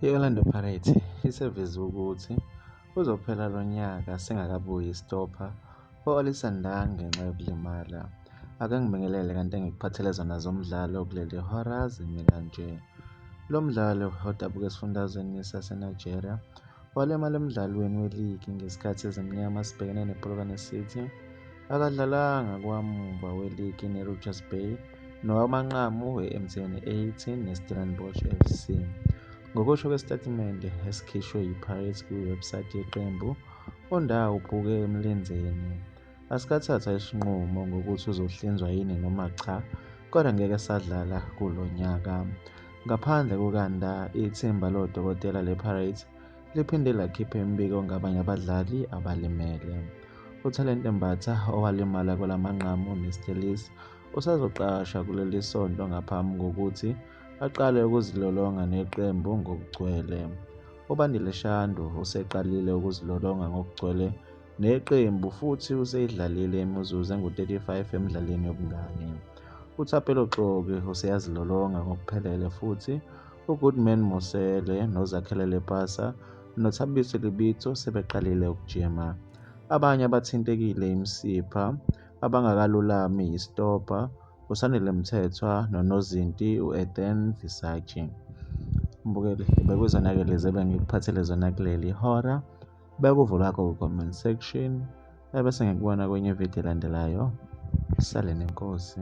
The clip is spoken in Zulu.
I-Orlando Pirates iseveze ukuthi uzophela lo nyaka singakabuyi isitopha u-Olisa Ndah ngenxa yokulimala. Akangibingelele kanti engikuphathele zona zomdlalo kuleli hora zimi kanje. Lo mdlali odabuka esifundazweni saseNigeria Walimala emdlalweni weligi ngesikhathi ezimnyama sibhekene nePolokwane City. Akadlalanga kwamuva weligi neRichards Bay nowamanqamu we-MTN 18 neStellenbosch FC. Ngokusho kwesitatimende esikhishwe yiPirates kwiwebsite yeqembu, uNdawo ubhuke emlenzeni. Asikathatha isinqumo ngokuthi uzohlinzwa yini noma cha kodwa ngeke sadlala kulo nyaka. Ngaphandle kukaNda, ithimba lodokotela lePirates liphinde lakhipha imibiko ngabanye abadlali abalimele. UThalente Mbatha owalimala kwelamanqamu neStellies usazoqasha kuleli sonto ngaphambi kokuthi aqale ukuzilolonga neqembu ngokugcwele. UBandile Shandu useqalile ukuzilolonga ngokugcwele neqembu futhi useyidlalile imizuzu engu-35 emidlalweni yobungani. UThapelo Xoki useyazilolonga ngokuphelele futhi uGoodman Mosele noZakhele Lepasa noThabiso Libitso sebeqalile ukujima. Abanye abathintekile imisipha abangakalulami yisitobha uSandile Mthethwa nonozinti u-Ethan Visagie. Mbukeli, bekwizona-ke lezi ebengikuphathele zona kuleli hora. Bekuvo lwakho ku-comment section ebese ngikubona kwenye ividiyo elandelayo. Sale nenkosi.